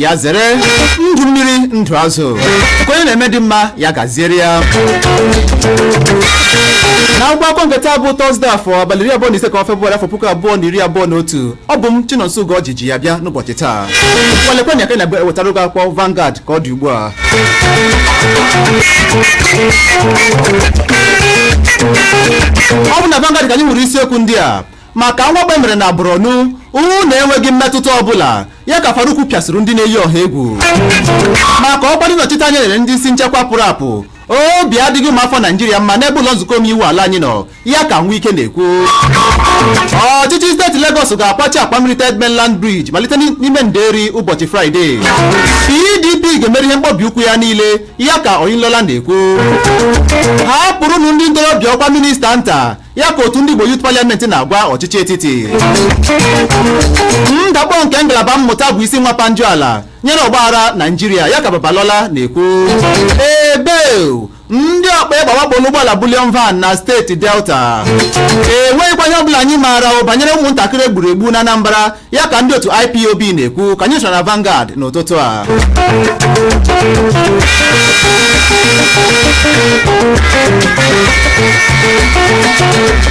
ya zere ndụ mmiri ndụ azụ nke onye na-eme dị mma ya gaziere ya na akwụkwọ akụkọ nke taa bụ tọzde afọ abalị iri abụọ na ise nke ọnwa febụwarị afọ puku abụọ na iri abụọ na otu ọ bụ m chinonso ugorji ji ya bịa n'ụbọchị taa ngwa lekwa anya ka anyị na-ewetara oge akwụkwọ Vanguard ka ọ dị ugbu a ọ bụ na Vanguard ka anyị hụrụ isiokwu ndị a maka mwakpo e mere na Borno unu enweghị mmetụta ọbụla ya ka Faruku pịasịrị ndị na-eyi ọha egwu maka ọkwa ndị nnọchite anya e nyere ndị isi nchekwa pụrụ apụ obi adịghị ụmụ afọ naijiria mma n'ebe ụlọ nzukọ omeiwu ala anyị nọ ya ka nwike na-ekwu ọchịchị steeti Lagos ga-akwachi akwa mmiri Third Mainland Bridge malite n'ime nderi ụbọchị fraịde PDP ga-emeri ihe mkpọbi ụkwụ ya niile ya ka Oyinlola na-ekwu hapụrụnụ ndị ntorobịa ọkwa minista nta ya ka otu ndị Igbo Youth Parliament na-agwa ọchịchị etiti ndakpọ nke ngalaba mmụta bụ isi nwapa njọ ala nyere ọgbaghara Naijiria ya ka Babalola na-ekwu ebe ndị ọkpa egbe wakporo ụgbọala bullion van na steeti delta enweghịkwa ihe ọbụla anyị maara banyere ụmụntakịrị e gburu egbu na anambra ya ka ndị otu ipob na-ekwu ka anyị soro na Vanguard n'ụtụtụ a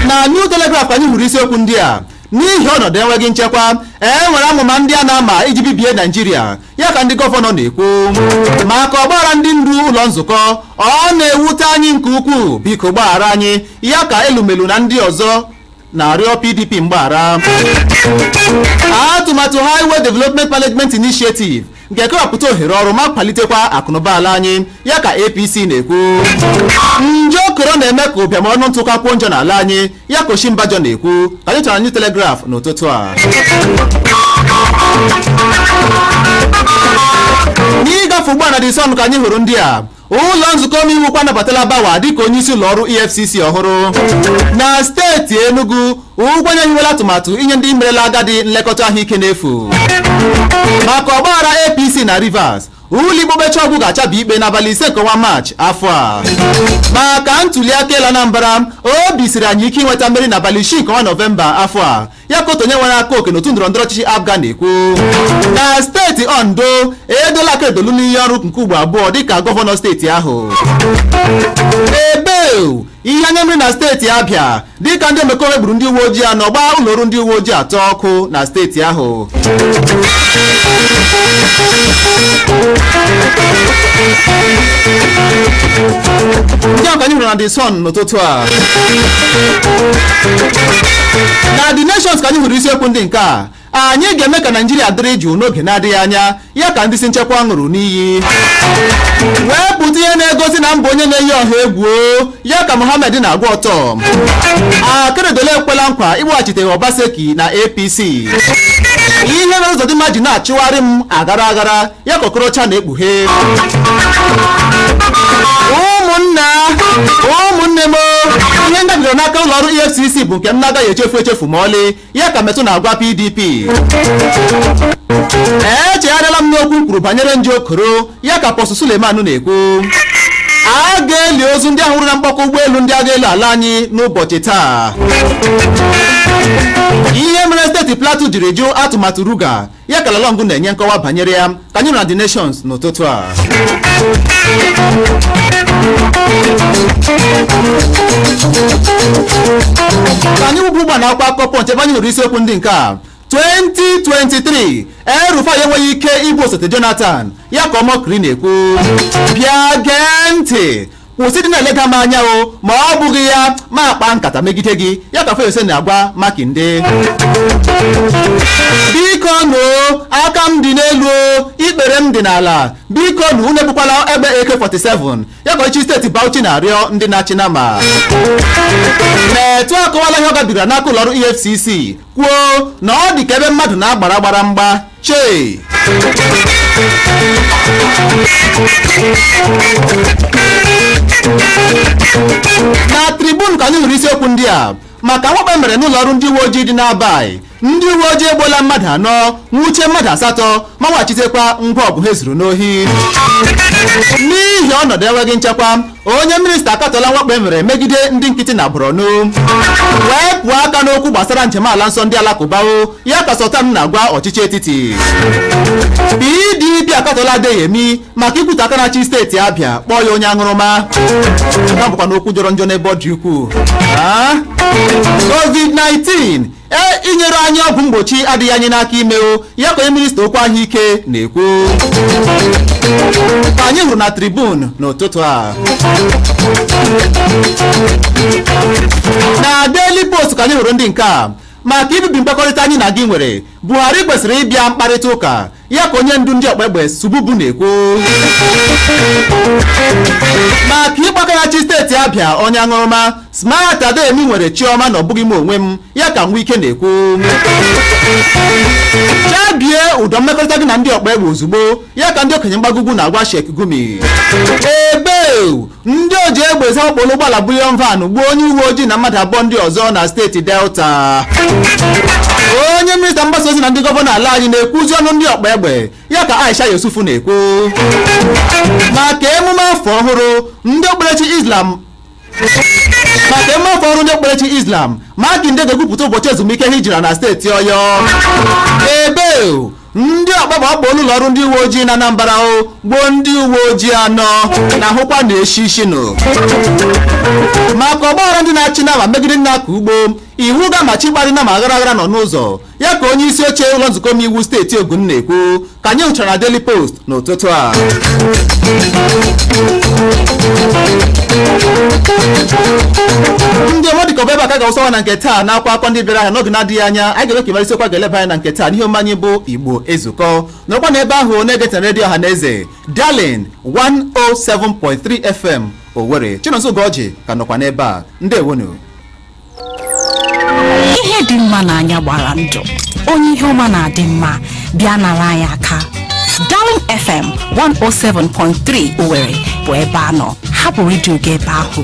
na New Telegraph ka anyị hụrụ isiokwu ndị a n'ihi ọnọdụ enweghị nchekwa e nwere amụma ndị a na-ama iji bibie naijiria ya ka ndị gọvanọ na-ekwu maka ọgbaghara ndị ndu ụlọ nzukọ ọ na-ewute anyị nke ukwuu biko gbaghara anyị ya ka elumelu na ndị ọzọ na-arịọ PDP mgbaghara atụmatụ Highway Development Management Initiative ga-ekewapụta ohere ọrụ ma kwalitekwa akụnụba ala anyị ya ka APC na-ekwu nje koro na-eme ka ụbịam ọnụ ntụ kakwuo njọ n'ala anyị ya ka Osinbajo na-ekwu ka anyị chọrọ na New Telegraph n'ụtụtụ a n'ịgafe ugbu a na the sun ka anyị hụrụ ndị a ụlọ nzukọ omeiwu ukwu anabatala bawa dịka onyeisi ụlọ ọrụ efcc ọhụrụ na steeti enugu ugwuanyi hiwela atụmatụ inye ndị merela agadi nlekọta ahụike n'efu maka ọgbaghara apc na rivers ụlọikpe okpecha ọgwụ ga-achabi ikpe n'abalị ise nke ọnwa maachị afọ a maka ntuli aka elu anambra obi siri anyị ike inweta mmeri n'abalị isii nke ọnwa nọvemba afọ a ya ka otu onye nwere aka oke n'otu ndọrọndọrọ ọchịchị apga na-ekwu na steeti ondo eduola akeredolu n'iyi ọrụ nke ugbo abụọ dịka gọvanọ steeti ahụ ebe ọ bụ ihe anya mmiri na steeti abịa dịka ndị omekome gburu ndị uwe ojii anọ gbaa ụlọ ọrụ ndị uwe ojii atọ ọkụ na steeti ahụ ndị a ka anyị hụrụ na the sun ụtụtụ a na the nations ka anyị hụrụ isiokwu ndị nke a anyị ga-eme ka naijiria dịrị jụụ n'oge na-adịghị anya ya ka ndị isi nchekwa ṅụrụ n'iyi wepụta ihe na-egosi na m bụ onye na-eyi ọha egwu o, ya ka mohammed na-agwa ortom akeredolu ekwela nkwa ịkpọghachite obaseki na apc ihe mere ụzọdịmma ji na-achụgharị m aghara aghara ya ka okorocha na-ekpughe ụmụnna ụmụnne m ihe m gabigara n'aka ụlọ ọrụ efcc bụ nke m na-agaghị echefu echefu ma ọlị ya ka metụ na-agwa pdp echegharịla m n'okwu m kwuru banyere nje okoro ya ka apostle suleman na-ekwu a ga-eli ozu ndị ahụ nwụrụ na mkpọkọ ụgbọelu ndị agha elu ala anyị n'ụbọchị taa ihe mere steeti plateau jiri jụ atụmatụ ruga ya ka lalong na-enye nkọwa banyere ya ka anyị hụrụ na the nations n'ụtụtụ a ka anyị wụba ugbu a na akwụkwọ akụkọ punch ebe anyị hụrụ isiokwu ndị nke a 2023 el-rufai enweghị ike ịbụ osote jonathan ya ka omokri na-ekwu bịa gee ntị kwụsị ịdị na-eleda m anya o ma ọ bụghị ya m akpaa nkata megide gị ya ka Fayose na-agwa Makinde biko nụ aka m dị n'elu o ikpere m dị n'ala biko nụ unu ebukwala egbe AK47 ya ka ọchịchị steeti Bauchi na-arịọ ndị na-achị nama metụ akọwala ihe ọ gabigara n'aka ụlọọrụ EFCC kwuo na ọ dị ka ebe mmadụ na agbara gbara mgba chee na tribune ka anyị hụrụ isiokwu ndị a maka mwakpo e mere n'ụlọ ọrụ ndị uwe ojii dị n'abayi ndị uwe ojii egbuola mmadụ anọ nwuchie mmadụ asatọ ma weghachitekwa ngwa ọgụ ha zuru n'ohi n'ihi ọnọdụ enweghị nchekwa onye minista akatọla mwakpo e mere megide ndị nkịtị na Borno wepụ aka n'okwu gbasara njem ala nsọ ndị alakụba o ya ka Sultan na-agwa ọchịchị etiti PDP akatọla Adeyemi maka ikwutọ aka na-achị steeti Abịa kpọọ ya onye aṅụrụma nke bụkwanụ okwu jọrọ njọ n'ebe ọ dị ukwuu ah, COVID-19 e inyere anyị ọgwụ mgbochi adịghị anyị n'aka ime o ya ka onye minista okwu ahụike na-ekwu ka anyị hụrụ na tribune n'ụtụtụ a na Daily Post ka anyị hụrụ ndị nke a maka ibibi mkpakọrịta anyị na gị nwere Buhari kwesịrị ịbịa mkparịta ụka ya ka onye ndu ndị ọkpa egbe sububu na-ekwu maka ịkpọ aka na-achị steeti abịa onye aṅụrụma smart adeyemi nwere chi ọma na ọ bụghị m onwe m ya ka wike na-ekwu chabie ụdọ mmekọrịta gị na ndị ọkpa egbe ozugbo ya ka ndị okenye mgbago ugwu na-agwa sheikh gumi ebe ndị oji egbe ezu wakporo ụgbọala bullion van gbuo onye uwe ojii na mmadụ abụọ ndị ọzọ na steeti delta onye minista mgbasa ozi na ndị gọvanọ ala anyị na-ekwuzi ọnụ ndị ọkpa egbe ya ka aisha yusufu na-ekwu maka emume afọ ọhụrụ ndị okpukperechi islam makinde ga-ekwupụta ụbọchị ezumike hijira na steeti ọyọ ebe ndị ọkpa egbe awakpoola ụlọ ọrụ ndị uwe ojii na Anambra gbuo ndị uwe ojii anọ na ahụkwa na-eshi ishi nụ maka ọgbaghara ndị na-achị nama megide ndị na-akọ ugbo iwu ga-amachi ịkparị nama aghara aghara nọ n'ụzọ ya ka onye isi oche ụlọ nzukọ omeiwu steeti Ogun na-ekwu ka anyị hụchara na Daily Post n'ụtụtụ a ndị ọma ọ dịka ọ bụ ebe a ka a ga-awụsawa na nke taa n'akwụkwọ ndị bịara ahịa n'oge na-adịghị anya anyị ga-eme ka ị mara isiokwu a ga-eleba anya na nke taa n'ihe omume anyị bụ igbo ezukọ nọrọkwa n'ebe ahụ na-egetara redio ọha na eze darling 107.3 fm owere chinonso ugorji ka nọkwa n'ebe a ndewonu ihe dị mma n'anya gbara ndụ onye ihe ọma na-adị mma bịa nara anyị aka Darling FM 107.3 Owerri bụ ebe a nọ hapụ redio gị ebe ahụ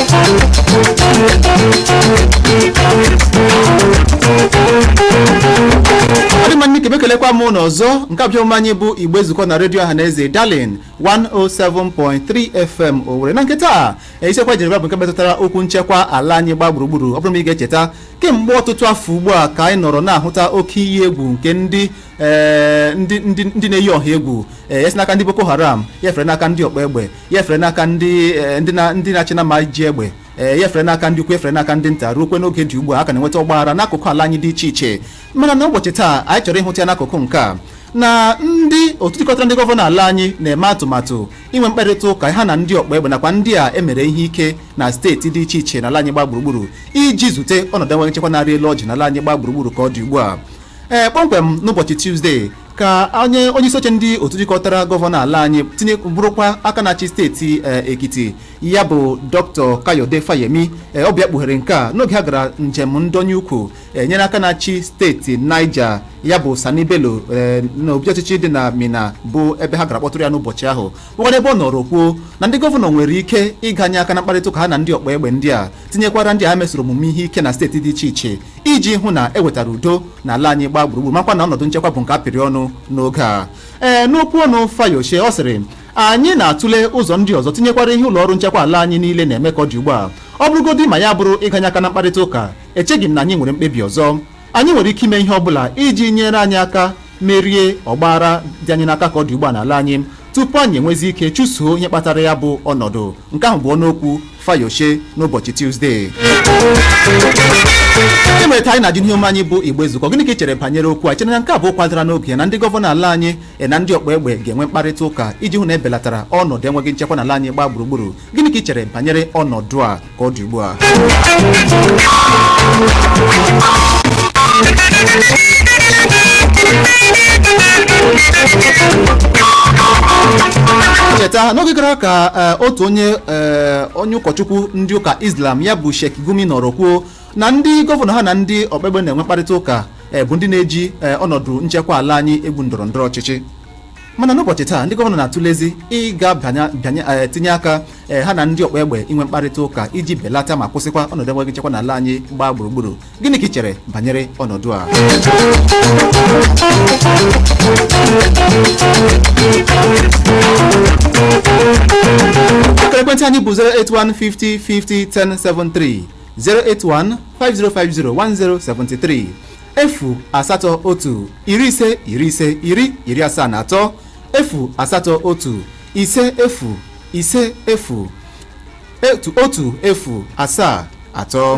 ọ dị mma nke ọma ekelekwa m unu ọzọ nke a bụ ihe omume anyị bụ igbo ezukọ na redio ọha na eze darling 107.3 fm owere na nke taa isiokwu e jiri bịa bụ nke metụtara okwu nchekwa ala anyị gba gburugburu ọ bụrụ ma ị ga-echeta kemgbe ọtụtụ afọ ugbu a ka anyị nọrọ na-ahụta oke iyi egwu nke ndị ee, ndị ndị ndị na-eyi ọha egwu ee, ya si n'aka ndị boko haram ya fere n'aka ndị ọkpa egbe ya fere n'aka ndị eh, ndị na- ndị na-achị nama ji egbe eh, ya fere n'aka ndị ukwu ya fere n'aka ndị nta ruokwa n'oge dị ugbu a a ka na-enweta ọgbaghara n'akụkụ ala anyị dị iche iche mana n'ụbọchị taa anyị chọrọ ịhụta ya n'akụkụ nke a na ndị otu jikọtara ndị gọvanọ ala anyị na-eme atụmatụ inwe mkparịta ụka ha na ndị ọkpa egbe nakwa ndị a e mere ihe ike na steeti dị iche iche n'ala anyị gba gburugburu iji zute ọnọdụ enweghị nchekwa na-arị elu ọjị n'ala anyị gba gburugburu ka ọ dị ugbu a ee kpọmkwem n'ụbọchị tuzdee ka onye onyeisi oche ndị otu jikọtara gọvanọ ala anyị bụrụkwa aka na-achị steeti eh, ekiti ya bụ dr kayode fayemi eh, ọ bịa kpughere nke a n'oge ha gara njem ndonye ukwu eh, nyere aka na-achị steeti niger ya bụ sani bello eh, n'obi ọchịchị dị na minna bụ ebe ha gara kpọtụrụ ya n'ụbọchị ahụ bụkwa n'ebe ọ nọrọ kwuo na ndị gọvanọ nwere ike ịganye aka na mkparịta ụka ha na ndị ọkpa egbe ndị a tinyekwara ndị ha mesoro omume ihe ike na steeti dị iche iche iji hụ na e wetara udo n'ala anyị gbaa gburugburu makwa na ọnọdụ nchekwa bụ nke a pịrị ọnụ n'oge a ee n'okwu ọnụ Fayose ọ sịrị anyị na-atụle ụzọ ndị ọzọ tinyekwara ihe ụlọ ọrụ nchekwa ala anyị niile na-eme ka ọ dị ugbu a ọ bụrụgodị ma ya bụrụ ịganye aka na mkparịta ụka echeghị m na anyị nwere mkpebi ọzọ anyị nwere ike ime ihe ọ bụla iji nyere anyị aka merie ọgbaghara dị anyị n'aka ka ọ dị ugbu a n'ala anyị tupu anyị enwezi ike chụsoo ihe kpatara ya bụ ọnọdụ nke ahụ bụ ọnụokwu Fayose n'ụbọchị Tuzdee e mere anyị na-ajụ n'ihe omume anyị bụ Igbo Ezukọọ gịnị ka ị chere banyere okwu a ị chere na nke a bụ okwu dara n'oge na ndị gọvanọ ala anyị e na ndị ọkpa egbe ga-enwe mkparịta ụka iji hụ na e belatara ọnọdụ enweghị nchekwa n'ala anyị gbaa gburugburu gịnị ka ị chere banyere ọnọdụ a ka ọ dị ugbu a cheta n'oge gara aga ka eh, otu onye eh, onye ụkọchukwu ndị ụka islam ya bụ Sheikh Gumi nọrọ kwuo na ndị gọvanọ ha na ndị ọkpa egbe na-enwe mkparịta ụka eh, bụ ndị na-eji ọnọdụ nchekwa ala anyị egwu ndọrọ ndọrọ ọchịchị mana n'ụbọchị taa ndị gọvanọ na-atụlezi ịga bịanye eh, tinye aka eh, ha na ndị ọkpa egbe inwe mkparịta ụka iji belata ma kwụsịkwa ọnọdụ enweghị nchekwa n'ala anyị gbaa gburugburu gịnị ka ị chere banyere ọnọdụ a akara ekwentị anyị bụ 08150501073 08150501073 efu asatọ otu iri ise iri ise iri iri asaa na atọ efu asatọ otu ise efu ise efu etu otu efu asaa atọ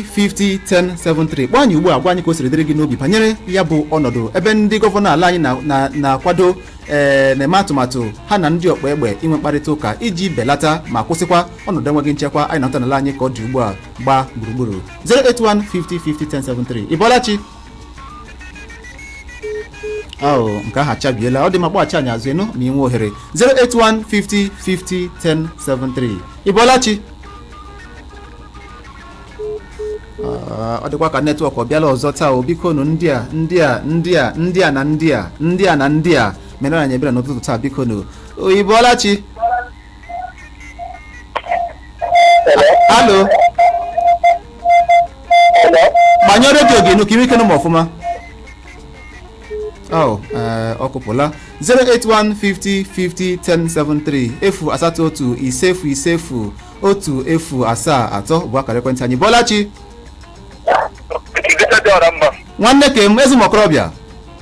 08150501073 kpọọ anyị ugbu a gwa anyị ka o siri dịrị gị n'obi banyere ya bụ ọnọdụ ebe ndị gọvanọ ala anyị na- na- na-akwado ee na-eme atụmatụ ha na ndị ọkpa egbe inwe mkparịta ụka iji belata ma kwụsịkwa ọnọdụ enweghị nchekwa anyị na-ahụta n'ala anyị ka ọ dị ugbu a gbaa gburugburu 08150501073 ị bọọla chi ah nke ahụ achabiela ọ dị ma kpọghachi anyị azụ enu ma ị nwee ohere 08150501073 ị bọọla chi Ah, ọ dịkwa ka netwọk ọ bịala ọzọ taa o biko nụ ndị a ndị a ndị a ndị a na ndị a ndị a na ndị a meere anyị ebere n'ụtụtụ taa biko nụ o ị bọọla chi alo gbanyụọ redio gị nụ ka i nwee ike nụ m ọfụma Oh, eh, ọ kụpụla 08150501073 efu asatọ otu ise efu ise efu otu efu asaa atọ bụ akara ekwentị anyị ị bọọla chi Dike dị ọra mma. nwanne kem ezi m okorobịa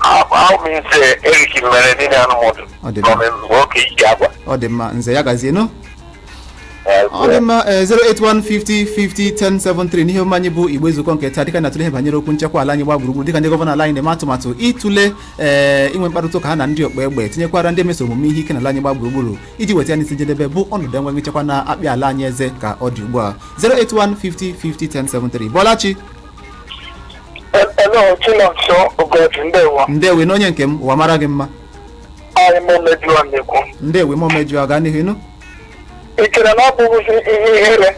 ahụ m Nze Eric mere niile anụmụdụ Ọ dị mma. gọọmenti mgbe oke iji agwa ọ dị mma nze ya gazie nụ ọ dị mma eh, 08150501073 n'ihe omume anyị bụ Igbo Ezukọọ nke taa dịka a na-atụle ihe banyere okwu nchekwa ala anyị gbaa gburugburu dịka ndị gọvanọ ala anyị na-eme atụmatụ ịtụle eh, inwe mkparịta ụka ha na ndị ọkpa egbe tinyekwara ndị mesoro omume ihe ike n'ala anyị gbaa gburugburu iji weta ya n'isi njedebe bụ ọnọdụ enweghị nchekwa na-akpị ala anyị eze ka ọ dị ugbu a 08150501073 ị bọọla chi Hello, Chinonso Ugorji, ndewo. ndewo na onye nke m ụwa mara gị mma Anyị m mejuo na-ekwu. ndewo ma Omeju gaa n'ihu ị nụ Ị chere na ọ bụghịzi ihe ihere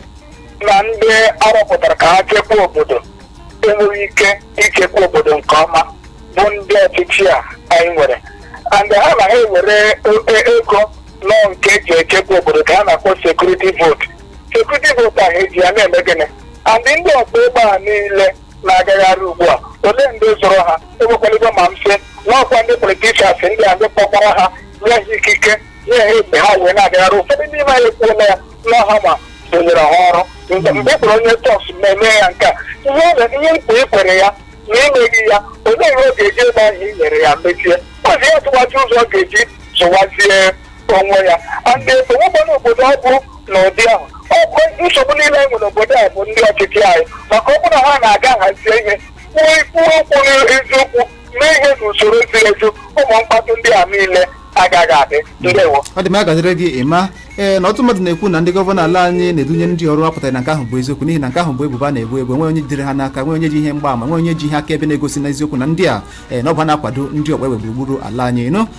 na ndị a rọpụtara ka ha chekwaa obodo enweghị ike ichekwa obodo nke ọma bụ ndị ọchịchị a anyị nwere and ha na ha ewere e- ego nọ nke e ji echekwa obodo ka ha na-akpọ sekuriti votu sekuriti votu a ha eji ya na-eme gịnị and ndị ọkpa egbe a niile na-agagharị ugbu a olee ndị zụrụ ha enwekwaligo ma mfe n'ọkwa ndị politishans ndị a ndị kpọkwara ha nye ha ikike nye ha egbe ha wee na-agagharị ụfọdụ n'ime ha ekwuola ya na ha ma ndị nyere ha ọrụ mgbe mgbe ị kpọrọ onye tọs na-eme ya nke a ihe ọ na- ihe nkwa ị kwere ya na i meghị ya olee ihe ọ ga-eji egbe ahụ i nyere ya mechie ozi ya tụwazi ụzọ ọ ga-eji zụwazie onwe ya and o nwekwanụ obodo ọ bụ n'ụdị ahụ ọ bụ nsogbu niile anyị nwere obodo a bụ ndị ọchịchị anyị maka ọ bụrụ ha na-aga hazie ihe kwuo ikwu okwu n'eziokwu mee ihe n'usoro ziri ezi ụmụ mkpatụ ndị a niile agaghị adị ndewo ọ dị mma ya gaziri gị ị ma ee na ọtụtụ mmadụ na-ekwu na ndị gọvanọ ala anyị na-edunye ndị a ọrụ apụtaghị na nke ahụ bụ eziokwu n'ihi na nke ahụ bụ ebubo a na-ebo ebo nwee onye jidere ha n'aka nwee onye ji ihe mgbaama nwee onye ji ihe akaebe na-egosi n'eziokwu na ndị a ee na ọ bụ ha na-akwado ndị ọkpa egbe gburugburu ala anyị nụ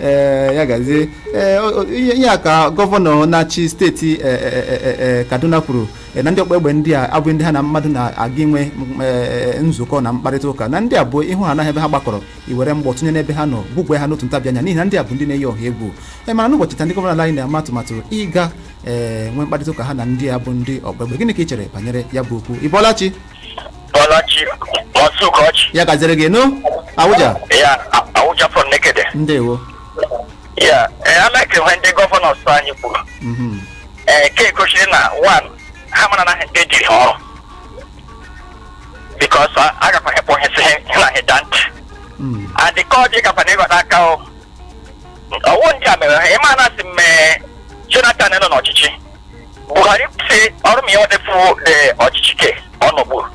ee ya gazie ee o- o- ihe ihe aka gọvanọ na-achị steeti e, e, e, e, e, kaduna kwuru e, na ndị ọkpa egbe ndị a abụghị ndị ha na mmadụ na-aga inwe m, e, e, nzukọ na mkparịta ụka na ndị a bụ ịhụ ha n'ọhịa ebe ha gbakọrọ iwere mgbọ tụnye n'ebe ha nọ gbugwe ha n'otu ntabi anya n'ihi na ndị a bụ ndị na-eyi ọha egwu e mana n'ụbọchị taa ndị gọvanọ ala anyị na-ama atụmatụ ịga ee nwee mkparịta ụka ha na ndị a bụ ndị ọkpa egbe gịnị ka ị chere banyere ya bụ okwu ị bọọla chi Bọọla chi Maazị Ugorji. ya gaziri gị nụ Awụja Ya Awụja from Nekede. ndewo Ya ee I like ihe ndị gọvanọs anyị kwuru. Mhm. Ee ke gosiri na one ha mara na ha ndị ziri ha ọrụ. Because a gakwa hepụ ihe si ha na hịda ntị. Mm. Adịka ọ dị gakwa na ịghọta aka o. Ọ wụ ndị a mere ha ị ma na a sị mgbe Jonathan nọ n'ọchịchị. Buhari sị ọ bụrụ ma ya nwedefu the ọchịchị ke ọ nọgburu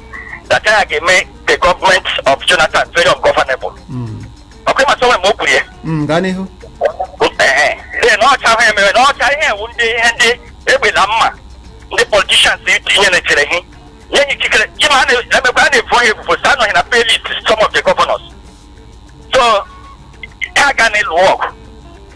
that ya ga-eme the government of Jonathan very ungovernable ọ kwa ị ma sị o nwe mgbe o kwuru ya Mm, gaa n'ihu Ee, ee, na ọcha ahụ emere na ọcha ihe ewu ndị ihe ndị egbe na mma ndị politishans itinye na-echere ihe nye ya ikikere ji ma a na- emekwa a na-ebu onye ebubo sị ha nọ na pay list some of the governors so ha ga na-alụ ọgụ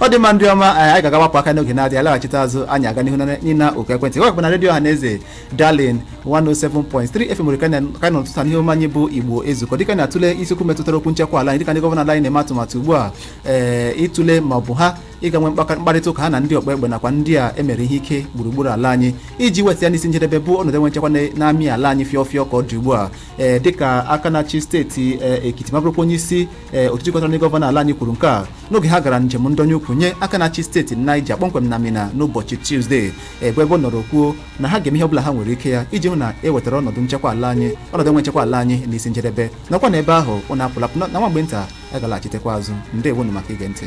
ọ dị mma ndị ọma anyị anyị ga-agawapụ aka n'oge na-adịghị alaghachite azụ anyị aga n'ihu na- n'ịna oku ekwentị ọ bụkwa na redio ọhaneze darling 107.3 fm owere ka anyị nọ n'ụtụtụ n'ihe omume anyị bụ igbo ezukọ dịka anyị na-atụle isiokwu metụtara okwu nchekwa ala anyị dịka ndị gọvanọ ala anyị na-eme atụmatụ ugbu a ee ịtụle ma ọ bụ ha ịga nwee mkpaka- mkparịta ụka ha na ndị ọkpa egbe nakwa ndị a emere ihe ike gburugburu ala anyị iji weta ya n'isi njedebe bụ ọnọdụ enwe nchekwa na- na-amị ala anyị fịọ fịọ ka ọ dị ugbu a ee dịka aka na-achị steeti ee, ekiti ma bụrụkwa onye isi ee otu jikọtara ndị gọvanọ ala anyị kwuru nke a n'oge ha gara njem ndọnye ụkwụ nye aka na-achị steeti Niger kpọmkwem na Minna n'ụbọchị Tuzdee ebe ebe ọ nọrọ kwuo na ha ga-eme ihe ọbụla ha nwere ike ya iji hụ na e wetara ọnọdụ nchekwa ala anyị ọnọdụ enwe nchekwa ala anyị n'isi njedebe nọkwa n'ebe ahụ unu apụla apụ na nwa mgbe nta a ga-alaghachitekwa azụ ndewonu maka ige ntị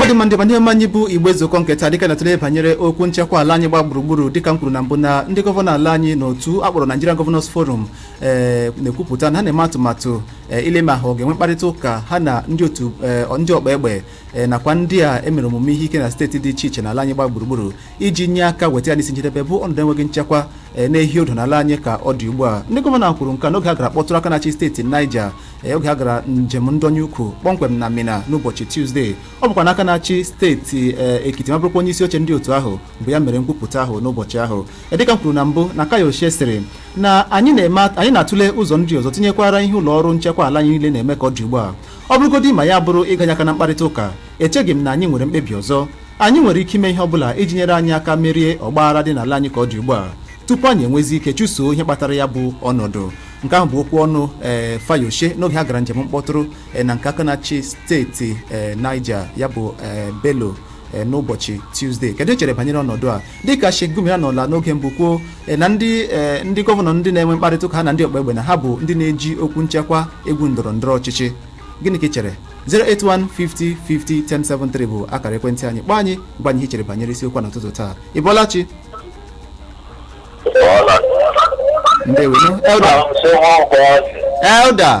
ọ dị mma ndị ọma n'ihe omume anyị bụ igbo ezukọ nke taa dịka a na-atụle banyere okwu nchekwa ala anyị gba gburugburu dịka m kwuru na mbụ na ndị gọvanọ ala anyị na otu a kpọrọ Nigerian Governors Forum ee na-ekwupụta na ha na-eme atụmatụ ee ile ma ha ọ ga-enwe mkparịta ụka ha na ndị otu ee, ndị ọkpa egbe e, nakwa ndị a emere omume ihe ike na steeti dị iche iche n'ala anyị gba gburugburu iji nye aka weta ya n'isi njedebe bụ ọnọdụ enweghị nchekwa e, na-ehi ụdụ n'ala anyị ka ọ dị ugbu a ndị gọvanọ kwuru nke a n'oge ha gara kpọtụrụ aka na-achị steeti Niger e, oge ha gara njem ndọnye ụkwụ kpọmkwem na Minna n'ụbọchị Tuzdee ọ bụkwanụ aka na-achị steeti e, Ekiti ma bụrụkwa onye isi oche ndị otu ahụ bụ ya mere nkwupụta ahụ n'ụbọchị ahụ E, dịka m kwuru na mbụ na Fayose sịrị na anyị na-eme anyị na-atụle ụzọ ndị ọzọ tinyekwara ihe ụlọ ọrụ nchekwa ala anyị niile na-eme ka ọ dị ugbu a ọ bụrụgodị ma ya bụrụ ịganye aka na mkparịta ụka echeghị m na anyị nwere mkpebi ọzọ anyị nwere ike ime ihe ọ bụla iji nyere anyị aka merie ọgbaghara dị n'ala anyị ka ọ dị ugbu a tupu anyị enwezi ike chụsoo ihe kpatara ya bụ ọnọdụ nke ahụ bụ okwu ọnụ ee eh, Fayose n'oge ha gara njem mkpọtụrụ eh, na nke aka na-achị steeti eh, Niger ya bụ Bello n'ụbọchị Tuesday kedu ihe i chere banyere ọnọdụ a dịka Sheikh Gumi anọla n'oge mbụ kwuo eh, na ndị eh, ndị gọvanọ ndị na-enwe mkparịta ụka ha na ndị ọkpa egbe na ha bụ ndị na-eji okwu nchekwa egwu ndọrọ ndọrọ ọchịchị gịnị ka i chere 08150501073 bụ akara ekwentị anyị kpọọ anyị gwa anyị ihe i chere banyere isiokwu a n'ụtụtụ taa ị bọọla chi ndewenu elder elder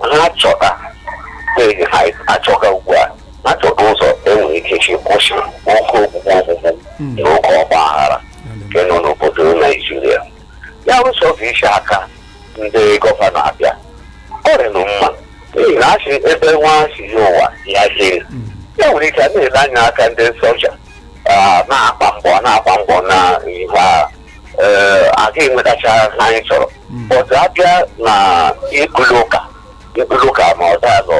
ha chọta ihe ha achọga ugbu a ha chọta ụzọ e nwere ike si kwụsị oke ogbugbu ogbugbu na oke ọgba aghara nke nọ n'obodo naijiria ya ụzọ bụ isi aka ndị gọvanọ abịa ọ rịnụ mma n'ihi na a sị ebe nwa si bịa ụwa ya hiri e nwere ike a na-ele anya aka ndị soja ah, na-agba mbọ na-agba mbọ na ihe agha ee a ga-enwetacha ha anyị chọrọ ọzọ a bịa na ịkụlụ ụka ịkụlụ ụka ma ọzọ azọ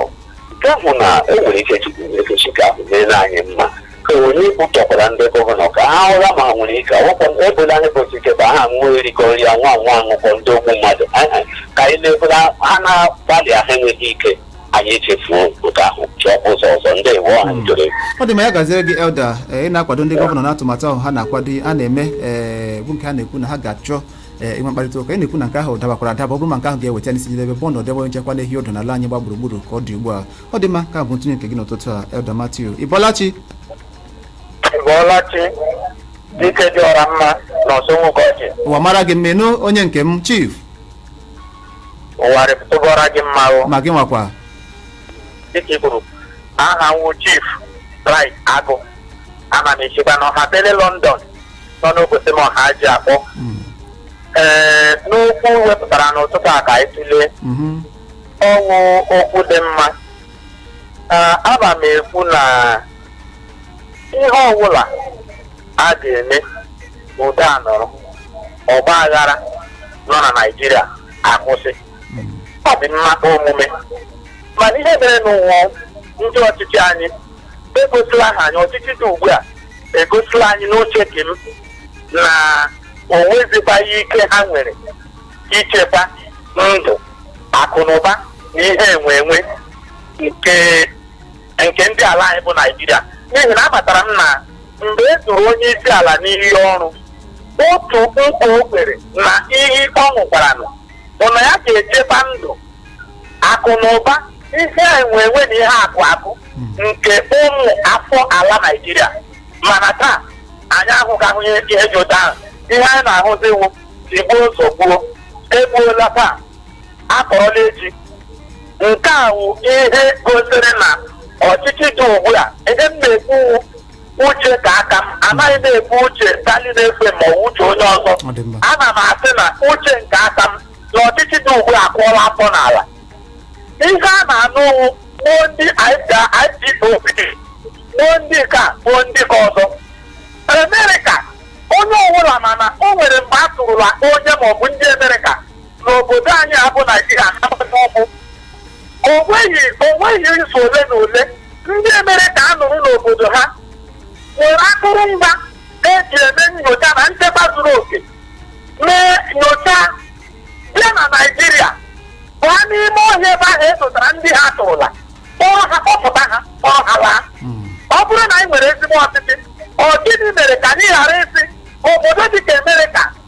nke ahụ na o nwere ike chukwu ekechi ka ahụ meere anyị mma ka onye kpụtọkwara ndị gọvanọ ka ha ụra ma nwere ike ọkwa ebola anyị bụ site ka ha nwee erikọ nri anwụ anwụ aṅụkọ ndị ogbu mmadụ Aha, ka anyị na-ebula ha na-agbalị ahụ enweghị ike anyị echefuo nke ahụ chọọ ụzọ ọzọ ndị iwu ọha njere ọ dị mma ya gaziere gị elda ee, ị na-akwado ndị gọvanọ n'atụmatụ ahụ ha na-akwado a na-eme ee, bụ nke a na-ekwu na ha ga-achọ ee, inwe mkparịta ụka ị na-ekwu na nke ahụ dabakwara adaba ọ bụrụ ma nke ahụ ga-eweta n'isi njedebe bụ ọnọdụ ebe nchekwa na-ehi ọdụ n'ala anyị gba gburugburu ka ọ dị ugbu a ọ dị mma ka bụ ntụnye nke gị n'ụtụtụ a elda Matthew ị bọọla chi ị bọọla chi dike dị ọra mma na ọsọ nwoke ọchị ụwa mara gị mma nụ onye nke m chief ụwa rịpụtụbọra gị mma o ma gị nwakwa dịka i kwuru aha m wụ chief Bright agụ ana m esikwa na ọha bele london nọ n'obosi m ọha ji akpọ Mm, ee n'okwu wepụtara n'ụtụtụ a ka anyị tụlee mhm, ọ wụ okwu dị mma Ee, ana m ekwu na ihe ọbụla a ga-eme udo anọrọ ọgba aghara nọ na naijiria akwụsị ọ dị mma omume mana ihe merenụ wụ ndị ọchịchị anyị egosila ha anyị ọchịchị dị ugbu a egosila anyị n'uche nke m na o nwezikwaghị ike ha nwere ichekwa ndụ akụ na ụba na ihe enwe enwe nke nke ndị ala anyị bụ naijiria n'ihi na amatara m na mgbe e duru onye isi ala n'iyi ọrụ otu nkwa o kwere na iyi ọ ṅụkwaranụ bụ na ya ga-echekwa ndụ akụ na ụba ihe enwe enwe na ihe akụ akụ nke ụmụ afọ ala naijiria mana taa anyị ahụghị ahụ ihe ihe dị otu ahụ ihe anyị na-ahụzi wụ tigbuo zọgbuo egbuola taa akpọrọla echi nke a wụ ihe gosiri na ọchịchị dị ugbu a ihe m na-ekwu wụ uche nke aka m anaghị m ekwu uche Darling FM ma ọ bụ uche onye ọzọ Ọ dị mma. ana m asị na uche nke aka m na ọchịchị dị ugbu a akụọla afọ n'ala ihe a na-anụ wụ boo ndị IPOB boo ndị ka boo ndị ka ọzọ Amerịka onye ọbụla mana o nwere mgbe a tụrụla onye maọbụ ndị Amerịka n'obodo anyị a bụ naijiria ha gbata ụkwụ onweghị onweghị izu ole na ole ndị amerịka nọrọ n'obodo ha nwere akụrụngwa eji eme nyocha na nchekwa zuru oke mee nyocha bịa na naijiria baa n'ime ọhịa ebe ahụ edotara ndị ha atọrọla kpọrọ ha kpọpụta ha kpọrọ ha laa ọ bụrụ na anyị nwere ezigbo ọchịchị ọ gịnị mere ka anyị ghara ịsị obodo dị ka amerịka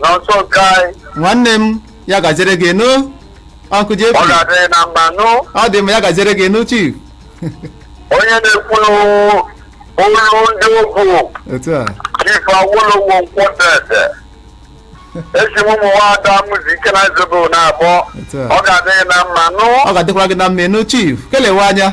nọnso nke anyị nwanne m ya gaziere gị nụ uncle jp ọ ga-adịrị na mma nụ ọ dị mma ya gaziere gị nụ chief onye na-ekwuru olu ndị ugwu otu a chief awolowo nkwọdede esi m ụmụ nwaada mụzi ike na zobo na-abụọ Otu a. ọ ga-adịrị na mma nụ ọ ga-adịkwara gị na mma nụ chief kelewe anya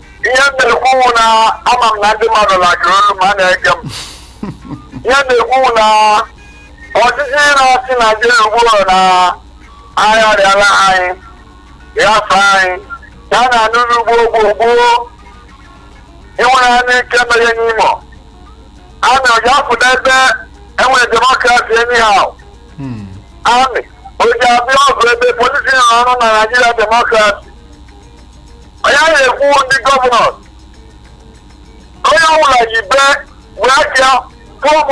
ihe m na-ekwu wụ na ama m na ndị mmadụ lajụrụ olu ma a na-ege m ihe m na-ekwu wụ na ọchịchị na-achị naijiria ugbu a na agharịala anyị ghafe anyị ya na anụrụ ugbo gboo gboo iwere ya n'ike mere n'imo amị o ji apụta ebe enwere demokrasi anyhow Hmm. amị o ji abịa ọgụ ebe polisi nọ ọrụ na naijiria demokrasi onye ahụ ekwu ndị gọvanọ onye ọbụla yi be wee aka form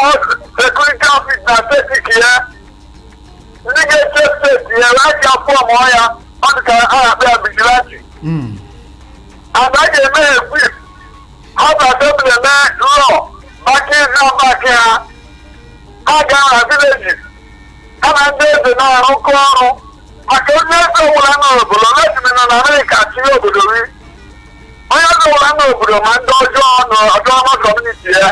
security office na steeti ke ya ndị ga-eche steeti ya wee aka form ya ọ dị ka a na-akpọ ya vigilante Mm. and a ga-eme equip ha assembly eme law maka iji back ha ha gaa na villages ha na ndị eze na-arụkọ ọrụ maka onye eze ọbụla nọ n'obodo lejime nọ na amerịka tinye obodo ri onye eze ọbụla nọ n'obodo ma ndị ọjọọ nọ autonomous community ya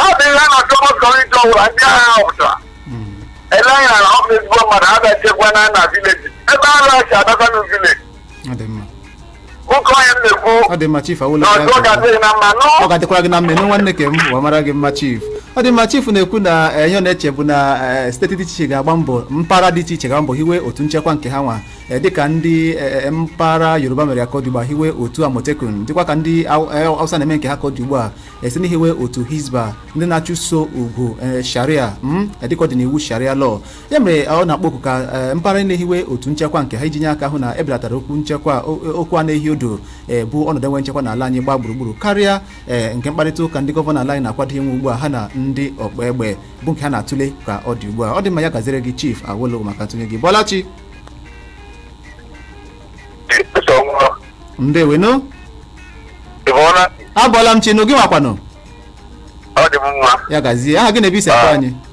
ọ dị ihe na autonomous community ọbụla ndị a ga-ahọpụta elere anya na ọ bụ ezigbo mmadụ ha bịa chekwa na na vileji ebe a na-achị adakwa na vileji Oke onye m na-ekwu ọ dị mma chief awolowo ọ ga-adịrị gị na mma nụ. ọ ga-adịkwara gị na mma nụ nwanne ke m ya mara gị mma chief ọ dị mma chief na-ekwu na eh, ihe ọ na-eche bụ na eh, steeti dị iche iche ga-agba mbọ mpaghara dị iche iche ga-agba mbọ hiwe otu nchekwa nke ha nwa eh, dịka ndị eh, eh, mpaghara yoruba mere ya ka ọ dị ugbu a hiwe otu amotekun dịkwa ka ndị Hau- eh, hausa na-eme nke ha ka ọ dị ugbu a esi n'ihiwe otu hizba ndị na-achụso okwu eh, sharia mm, eh, dịka ọ dị n'iwu sharia law ya mere ọ na-akpọ oku ka eh, mpaghara na-ehiwe otu nchekwa nke ha iji nye aka hụ na ebelatara okwu nchekwa o- okwu a na-ehi odo eh, bụ ọnọdụ enwe nchekwa n'ala anyị gbaa gburugburu karịa eh, nke mkparịta ụka ndị gọvanọ ala anyị na-akwado inwe ugbu a ha na ndị ọkpa egbe bụ nke ha na-atụle ka ọ dị ugbu a ọ dị mma ya gaziere gị chief awolowo maka ntụnye gị bọọla chi ndewenu ị bọọla abọọla m chi nụ gị nwakwanụ ọ dị mma ya gazie aha gị na ebe i si akpọ anyị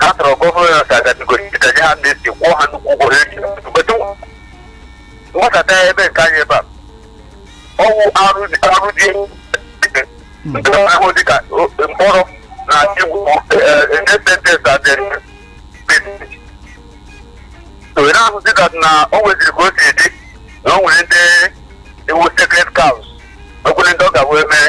ha tọrọ gọvanọ ka agadigoro ka nye ha ndị si kwụọ ha nnukwu ụgwọ ha eji mgbeta mgbasata ebe nke anyị ebe a ọwụ arụ dị arụ dị nke ahụ dị ka o- mkpọrọ na igwu ndependent adịrị onye ahụ dị ka na o nweziri ka o si dị na o nwere ndị wụ sacred cows o nwere ndị ọ ga wee mee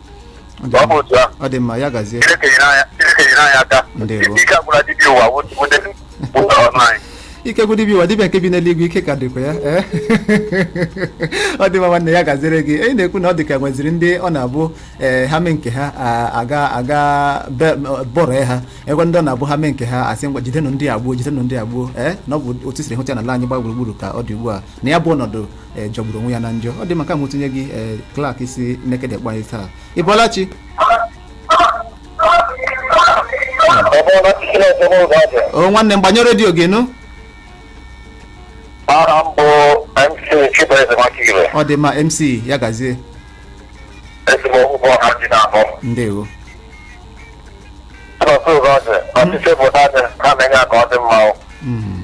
Ọ dị ọ bụ mma. otu ahụ ọ dị mma ya gazie chineke nyere anyị chineke nyere anyị aka Ndewo. ike agwụla dibịa ụwa wụ- wụde ụzọ ọnụ anyị ike gwụ dibịa ụwa dibịa nke bi n'eluigwe ike ka dịkwa ya ee. ọ dị mma nwanne ya gaziere gị ee ị na-ekwu na ọ dị ka nweziri ndị ọ na-abụ ee, ha mee nke ha a- aga aga be- bọrọ ya ha ekwe ndị ọ na-abụ ha mee nke ha asị ngwa jidenụ ndị a gbuo jidenụ ndị a gbuo ee na ọ bụ otu i siri hụta n'ala anyị gbaa gburugburu ka ọ dị ugbu a na ya bụ ọnọdụ eh, jọgburu onwe ya na njọ ọ dị mma nke a bụ ntụnye gị eh, Clark si Nekede kpọọ anyị taa ị bọọla chi o nwanne m gbanyụọ redio gị nụ aha m bụ mc chibueze Nwakire ọ dị mma mc ya gazie ezigbo ụgwọ ha ji na-abụ ndewo ụtụtụ Ugorji ọchịchị obodo anyị ha na-enye aka ọ dị mma o. Mm.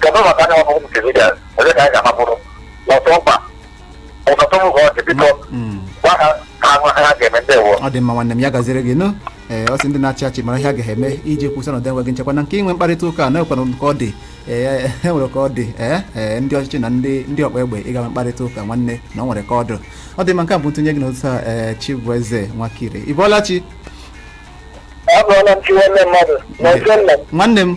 kedu maka anyị bụ civilians ebe ka anyị ga-amapụrụ n'ọtụ mkpa ụtụtụ Ugorji biko Mm. gwa ha ka ha mara ihe ha ga-eme ndewo ọ dị mma nwanne m ya gaziere gị nụ ee ọ sị ndị na-achị achị mara ihe a ga-eme iji kwụsị ọnọdụ enweghị nchekwa na nke inwe mkparịta ụka na e nwere ka ọ dị ee e nwere ka ọ dị ee ee ndị ọchịchị na ndị ndị ọgba egbe ịga nwee mkparịta ụka nwanne na ọ nwere ka ọ dị ọ dị mma nke a bụ ntụnye gị n'ụtụtụ a ee Chibueze Nwakire ị bọọla chi abụọla m chi nwanne mmadụ na otu nna m nwanne m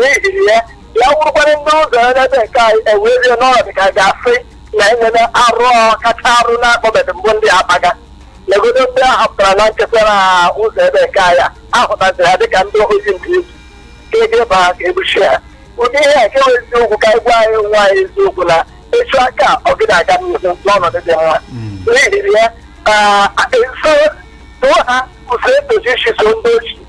n'ihi ya ya wụrụkwara ndị ụzọ ya n'ebe nke anyị enwezie ọnọdụ ka a ga-asị na enwere arụ kacha arụ na-akpabeghị mbụ ndị akpaga legodo ndị a hapụtara na nchekwa na ụzọ ebe nke anyị a, ahụtaziri ha dịka ndị ohi nke izu ka ebe ba ka egbuchi ha ụdị ihe a nke bụ eziokwu ka anyị gwa onwe anyị eziokwu na a chọọ ka ọ gị na-aga n'ihu n'ọnọdụ dị mma n'ihi ya sotuo ha ụzọ e tosiri isi so ndị ohi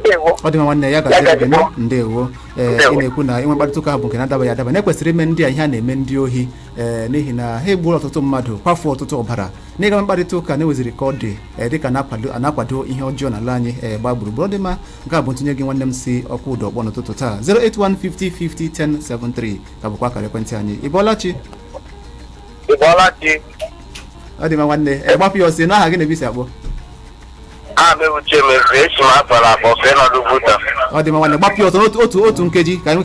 ndewo ọ dị mma nwanne ya gaziere gị nụ ndewo ee ị na-ekwu na inwe mkparịta ụka bụ nke na-adabaghị adaba na ekwesịrị ime ndị a ihe a na-eme ndị ohi ee n'ihi na ha egbuola ọtụtụ mmadụ kwafuo ọtụtụ ọbara na ịga mkparịta ụka na e nweziri ka ọ dị ee dịka na-akwado a na-akwado ihe ọjọọ n'ala anyị ee gbaa gburugburu ọ dị mma nke a bụ ntụnye gị nwanne m si Okwudor kpọọ n'ụtụtụ taa 08150501073 ka bụkwa akara ekwentị anyị ị bọọla chi ị bọọla chi ọ dị mma nwanne ee gbapịa ọsọ aha gị na ebe i si akpọ Aha m bụ Uche Mezuru esi m Agbala akpọ fee nọdụ buta. ọ dị mma nwanne gbapịa ọsọ n'otu otu otu nkeji ka anyị nwee ike